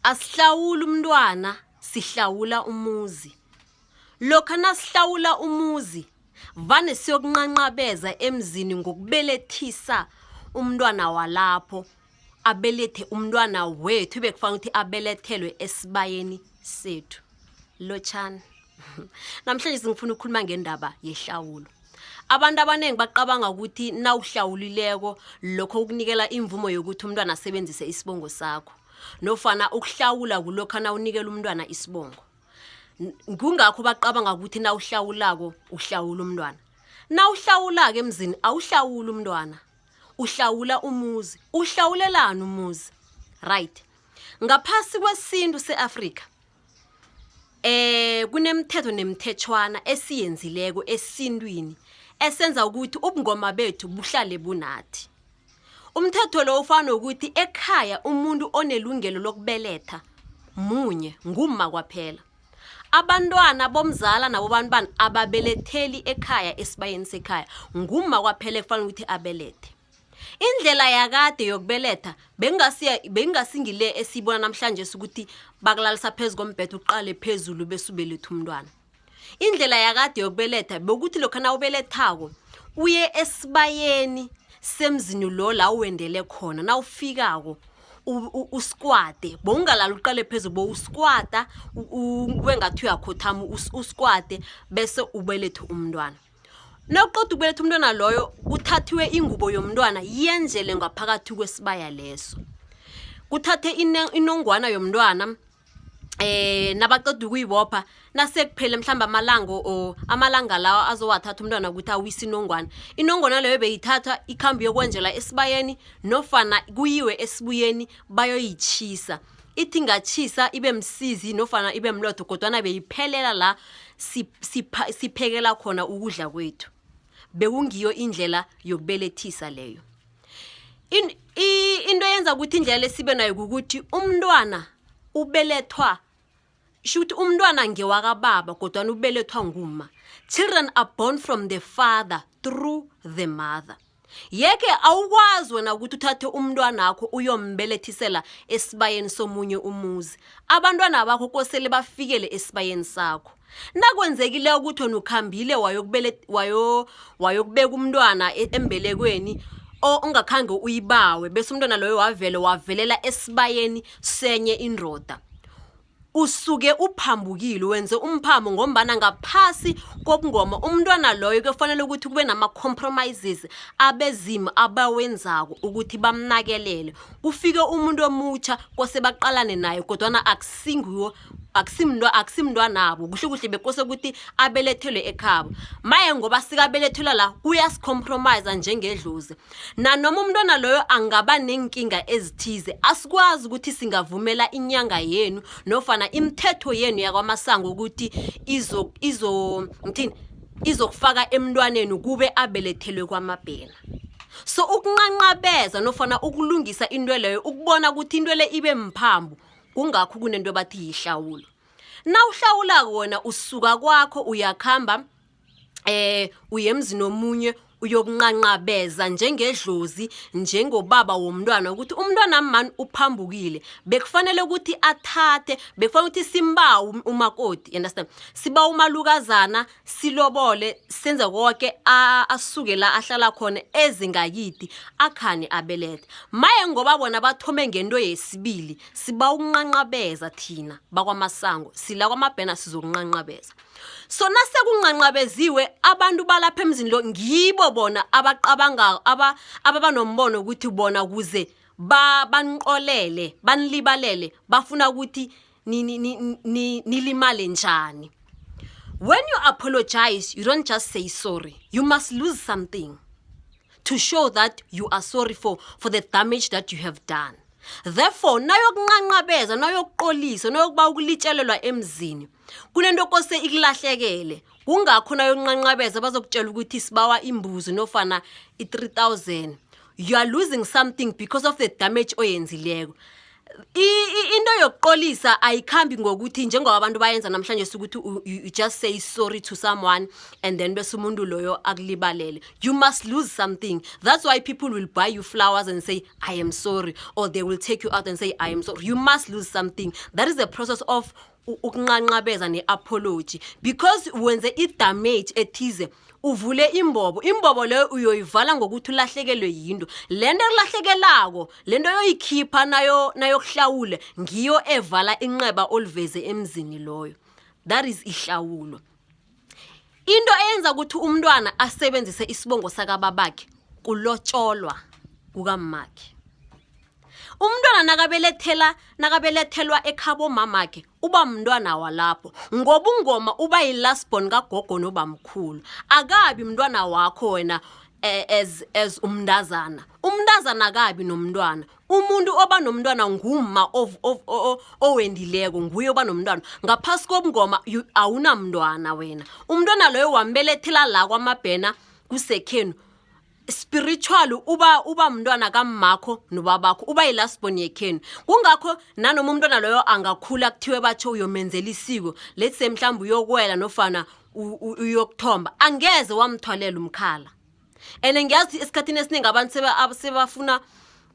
Asihlawula umntwana sihlawula umuzi. Lokha nasihlawula umuzi vane siyokunqanqabeza emzini ngokubelethisa umntwana walapho abelethe umntwana wethu bekufanele ukuthi abelethelwe esibayeni sethu. lotshani namhlanje singifuna ukukhuluma ngendaba yehlawulo abantu abaningi bacabanga ukuthi nawuhlawulileko lokho ukunikela imvumo yokuthi umntwana asebenzise isibongo sakho nofana ukuhlawula kulokho nawunikela umntwana isibongo kungakho bacabanga ukuthi nawuhlawulako uhlawula umntwana nawuhlawulako emzini awuhlawula umntwana uhlawula umuzi uhlawulelani umuzi right ngaphasi kwesintu seAfrika Kunemithetho nemithetjhwana esiyenzileko esintwini esenza ukuthi ubungoma bethu buhlale bunathi. Umthetho lo ufana nokuthi ekhaya umuntu onelungelo lokubeletha munye, ngumma kwaphela. Abantwana bomzala nabobantwana ababeletheli ekhaya esibayeni sekhaya, ngumma kwaphela ekufanele ukuthi abelethe. indlela yakade yokubeletha bengingasingile esiyibona namhlanje sukuthi bakulalisa phezu kombhetho uqale phezulu besubeletha umntwana indlela yakade yokubeletha bekuthi lokho na ubelethako uye esibayeni semzini lo la uwendele khona na ufikako usikwade bowungalala uqale phezu bo usikwada wengathi uyakhothama usikwade bese ubelethe umntwana Nawuqoda ukubeletha umntwana loyo kuthathiwe ingubo yomntwana yenzele ngaphakathi kwesibaya leso kuthathe inongwana yomntwana eh nabaqeda ukuyibopha nasekuphele mhlamba amalango o amalanga lawa azowathatha umntwana ukuthi awise inongwana inongwana leyo beyithatha ikhambi yokwenjela esibayeni nofana kuyiwe esibuyeni bayoyichisa Ithi ingatjhisa ibe msizi nofana ibe mlotho kodwana beyiphelela la siphekela khona ukudla kwethu bekungiyo indlela yokubelethisa leyo into eyenza ukuthi indlela lesibe nayo kukuthi umntwana ubelethwa sho ukuthi umntwana ngewakababa kodwana ubelethwa nguma children are born from the father through the mother yeke awukwazi wena ukuthi uthathe umntwana akho uyombelethisela esibayeni somunye umuzi abantwana bakho kosele bafikele esibayeni sakho nakwenzekile ukuthi wena ukhambile wayokubeka umntwana e-, embelekweni ongakhange uyibawe bese umntwana loyo wavele wavelela esibayeni senye indoda usuke uphambukile wenze umphambo ngombana ngaphasi kobungoma umntwana loyo kuyofanele ukuthi kube nama-compromises abezimu abawenzako ukuthi bamnakelele kufike umuntu omutsha kose baqalane naye kodwana akusingiwo akusimntu akusimntwanabo kuhle kuhle bekose ukuthi abelethelwe ekhabo maye ngoba sikabelethelwa la kuyasicompromise njengedlozi Nanoma umntwana loyo angaba neenkinga ezithize, asikwazi ukuthi singavumela inyanga yenu nofana imithetho yenu yakwamasango ukuthi izo izo ngithini izokufaka emntwaneni kube abelethelwe kwamabhena. So ukunqanqabeza nofana ukulungisa into leyo ukubona ukuthi into le ibe mphambo kungakho kunento ebathi yihlawulo. Nawuhlawulako wena usuka kwakho uyakhamba eh uyemzini omunye uyokunqanqabeza njengedlozi njengobaba womntwana ukuthi umntwana mani uphambukile bekufanele ukuthi athathe bekufanele ukuthi simbawe um-, umakoti understand siba umalukazana silobole senze konke asuke la ahlala khona ezingakidi akhani abelethe maye ngoba bona bathome ngento yesibili siba ukunqanqabeza thina bakwamasango sila kwamabhena sizokunqanqabeza so nasekunqanqabeziwe abantu balapha emzini lo ngibo bona abaqabangako aba ababa nombono ukuthi bona kuze ba banqolele banilibalele bafuna ukuthi nilimale njani when you apologize you don't just say sorry you must lose something to show that you are sorry for for the damage that you have done therefore nayokunqanqabeza nayokuqolisa nayokuba ukulitshelelwa emzini kunento kose ikulahlekele kungakho nayonqanqabeza bazokutshela ukuthi sibawa imbuzi nofana i-3000 you are losing something because of the damage oyenzileko into yokuqolisa ayikhambi ngokuthi njengoba abantu bayenza namhlanje sukuthi you just say sorry to someone and then bese umuntu loyo akulibalele you must lose something that's why people will buy you flowers and say i am sorry or they will take you out and say i am sorry you must lose something that is the process of u- ukunqanqabeza ne-apology because wenze i-damage ethize uvule imbobo imbobo leyo uyoyivala ngokuthi ulahlekelwe yinto le nto elahlekelako le nto yoyikhipha nayo nayokuhlawula ngiyo evala inxeba oliveze emzini loyo that is ihlawulo into eyenza ukuthi umntwana asebenzise isibongo sakababakhe kulotsholwa kukammakhe umntwana nakabelethela nakabelethelwa ekhabo mamakhe uba mntwana walapho ngoba ungoma uba yi-lastborn kagogo nobamkhulu akabi mntwana wakho wena eh, as as umntazana umntazana akabi nomntwana umuntu oba nomntwana ngumma owendileko nguye oba nomntwana ngaphasi kobungoma awunamntwana wena umntwana loyo wambelethela la kwamabhena kusekhenu spiritual uba uba mntwana kammakho nobabakho uba yi-lastborn yekhenu kungakho nanoma umntwana loyo angakhula kuthiwe batsho uyomenzela isiko let's say mhlawumbe uyokwela nofana uyokuthomba angeze wamthwalela umkhala and ngiyazi esikhathini esiningi abantu seba- ab- sebafuna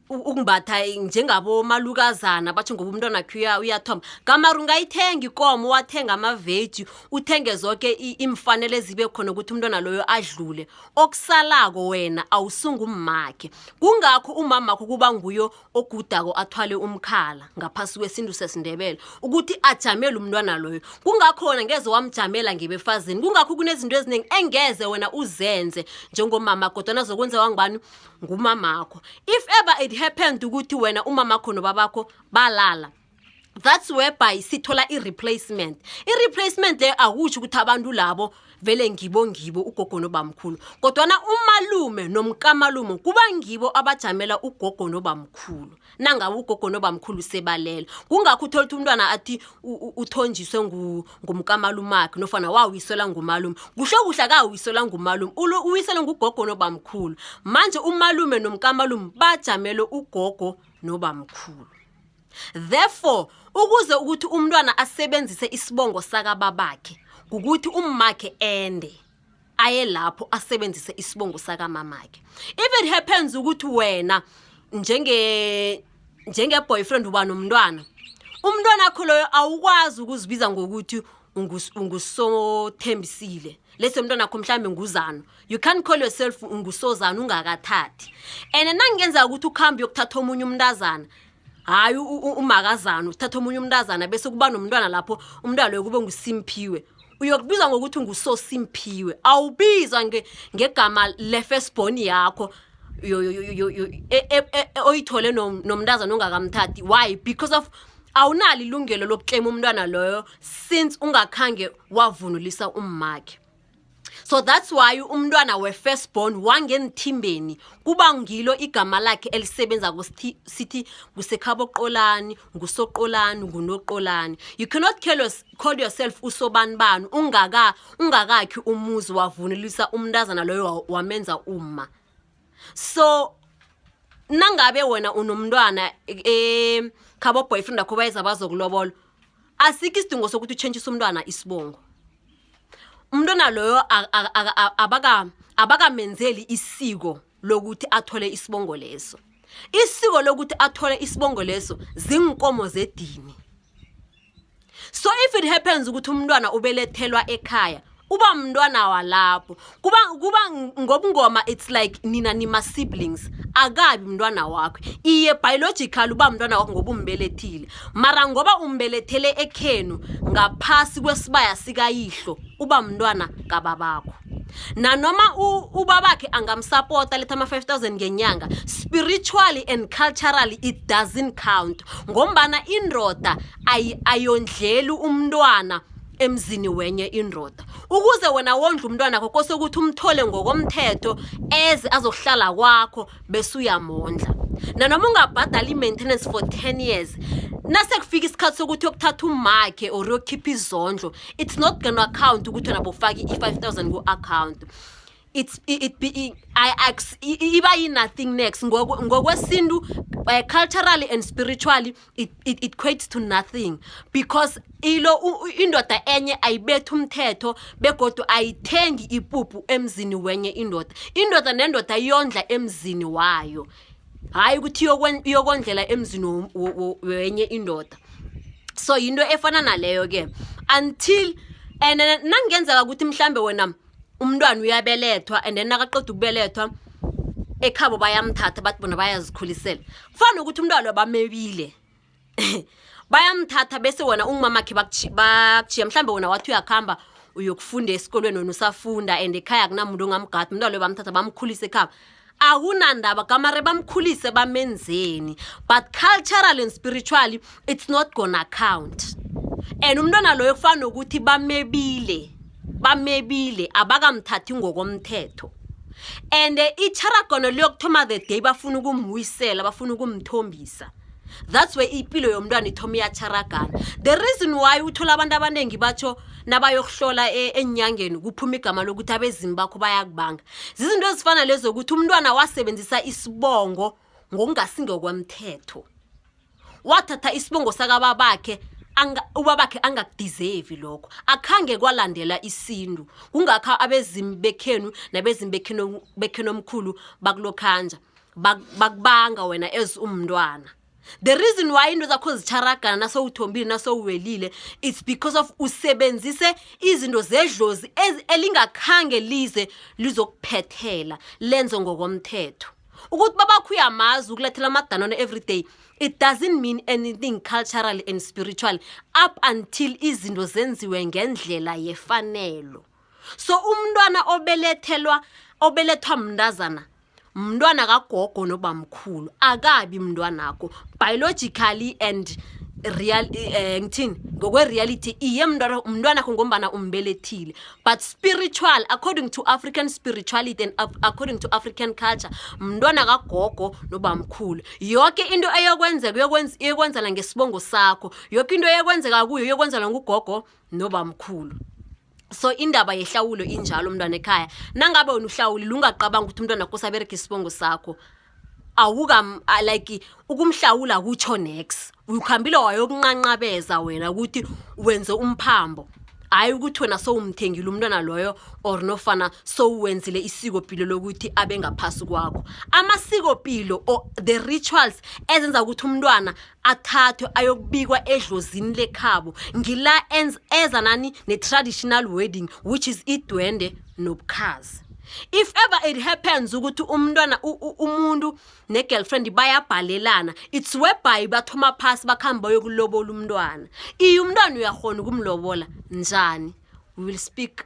u- ukumbatha njengabomalukazana batho ngoba umntwana khe uya- uyathoma gamari ungayithenga ikomo wathenga amaveji uthenge zonke i- iimfanele ezibe khona ukuthi umntwana loyo adlule okusalako wena awusungu ummakhe kungakho umamakho kuba nguyo ogudako athwale umkhala ngaphasi kwesintu sesindebele ukuthi ajamele umntwana loyo kungakho wena ngeze wamjamela ngebefazini kungakho kunezinto eziningi engeze wena uzenze njengomama kodwana zokwenzewa ngubani ngumamakho if ever it happened ukuthi wena umamakho nobabakho balala that's whereby sithola i-replacement i-replacement leyo akutsho ukuthi abantu labo vele ngibo ngibo ugogo nobamkhulu kodwana umalume nomkamalume kuba ngibo abajamela ugogo nobamkhulu nangabe ugogo nobamkhulu sebalele kungakho uthola ukuthi umntwana athi uthonjiswe ngumkamalumakhe nofana wawiselwa ngumalume kusho kuhle akawiselwa ngumalume uwiselwe ngugogo nobamkhulu manje umalume nomkamalume bajamele ugogo nobamkhulu therefore ukuze ukuthi umntwana asebenzise isibongo sakababakhe kukuthi ummakhe ende aye lapho asebenzise isibongo sakamamakhe if it happens ukuthi wena njenge njengeboyfriend uba nomntwana umntwana akho loyo awukwazi ukuzibiza ngokuthi ungus- ungusothembisile lesi umntwana akho mhlawumbe nguzano you can't call yourself ungusozana ungakathathi and nangenzeka ukuthi ukuhambe uyokuthatha omunye umntazana hayi u- u- umakazana uthatha omunye umntazana bese kuba nomntwana lapho umntwana loyo kube ngusimphiwe uyokubizwa ngokuthi ngusosimphiwe awubizwa nge- ngegama le-firstborn yakho yo- yo- yo- yo- yo- e- e- e- e- oyithole nom- nomntazana ongakamthathi why because of awunalo ilungelo lokuklema umntwana loyo since ungakhange wavunulisa ummakhe so that's why umntwana we-first born wangeenthimbeni kuba ngilo igama lakhe elisebenza sithi ngusekhaboqolani ngusoqolani ngunoqolani you cannot call yourself usobani bani ungaka ungakakhi umuzi wavunulisa umntazana loyo wamenza uma so nangabe wena unomntwana ekhabo boyfriend akho bayeza bazokulobola asikho isidingo sokuthi utshentshise umntwana isibongo umntwana loyo abakamenzeli isiko lokuthi athole isibongo leso isiko lokuthi athole isibongo leso zinkomo zedini so if it happens ukuthi umntwana ubelethelwa ekhaya uba mntwana walapho kuba kuba ngobungoma it's like nina nima-siblings akabi mntwana wakho iye biological uba mntwana wakho ngoba umbelethile mara ngoba umbelethele ekhenu ngaphasi kwesibaya sikayihlo uba mntwana kababakho nanoma ubabakhe angamsapota letha ama-5000 ngenyanga spiritually and culturally it doesn't count ngombana indoda ayondleli umntwana emzini wenye indoda ukuze wena wondla umntwanakho kose ukuthi umthole ngokomthetho eze azokuhlala kwakho bese uyamondla nanoma ungabhadala i-maintenance for 10 years nasekufika isikhathi sokuthi yokuthatha umakhe or yokukhipha izondlo it's not gonna account ukuthi wena bofake i-5000 ku-account it's it, it be it, I ax iba yi nothing next ngokwesintu uh, culturally and spiritually it, it it equates to nothing because ilo indoda enye ayibetha umthetho begodu ayithengi ipupu emzini wenye indoda indoda nendoda iyondla emzini wayo hayi ukuthi iyokondlela emzini wenye indoda so yinto efana naleyo ke until and nangenzeka ukuthi mhlambe wena umntwana uyabelethwa and then nakaqeda ukubelethwa ekhabo bayamthatha bathi bona bayazikhulisela kufanele ukuthi umntwana bamebile bayamthatha bese wona ungumamakhe bakuchiya mhlawumbe wona wathi uyakuhamba uyokufunda esikolweni wena usafunda and ekhaya akunamuntu ongamgadi umntwana loyo bamthatha bamkhulisa ekhaba akunandaba kamare bamkhulise bamenzeni but cultural and spiritually it's not gonna count and umntwana loyo kufana nokuthi bamebile bamebile abakamthathi ngokomthetho and icharagono liyokuthoma the day bafuna ukumwisela bafuna ukumthombisa that's where ipilo yomntwana ithoma iyacharagana the reason why uthola abantu abaningi batsho nabayokuhlola e, enyangeni kuphuma igama lokuthi abezimu bakho bayakubanga zizinto ezifana lezo ukuthi umntwana wasebenzisa isibongo ngokungasingokwemthetho wathatha isibongo sakababakhe ubabakhe angakudizevi lokho akhange kwalandela isintu kungakho abezimu bekhenu nabezimu bekhenu omkhulu bakulokhanja bakubanga wena as umntwana the reason why into zakho zitharagana nasowuthombile nasowuwelile it's because of usebenzise izinto zedlozi elingakhange lize lizokuphethela lenze ngokomthetho ukuthi babakho uyamazi ukulethela amadanone every day it doesn't mean anything culturally and spiritually up until izinto zenziwe ngendlela yefanelo so umntwana obelethelwa obelethwa mntazana mntwana kagogo nobamkhulu akabi mntwanakho biologically and real eh ngithini ngokwe reality iye mntwana umntwana kho ngombana umbelethile but spiritual according to African spirituality and according to African culture mntwana kagogo nobamkhulu yonke into eyokwenzeka uyokwenza iyokwenzana ngesibongo sakho yonke into eyokwenzeka kuyo iyokwenzana ngugogo nobamkhulu so indaba yehlawulo injalo umntwana ekhaya nangabe wena uhlawulile ungaqabanga ukuthi umntwana kho sabereka isibongo sakho awuka like ukumhlawula kutsho nex ukhambile wayokunqanqabeza wena ukuthi wenze umphambo hhayi ukuthi wena sowumthengile umntwana loyo or nofana sowuwenzile isikopilo lokuthi abe ngaphasi kwakho amasikopilo or the rituals ezenza ukuthi umntwana athathwe ayokubikwa edlozini lekhabo ngila eza nani ne-traditional wedding which is idwende nobukhazi if ever it happens ukuthi umntwana umuntu ne-girlfriend bayabhalelana it's whereby bathoma phasi bakhambe bayokulobola umntwana iye umntwana uyakhona ukumlobola njani we will speak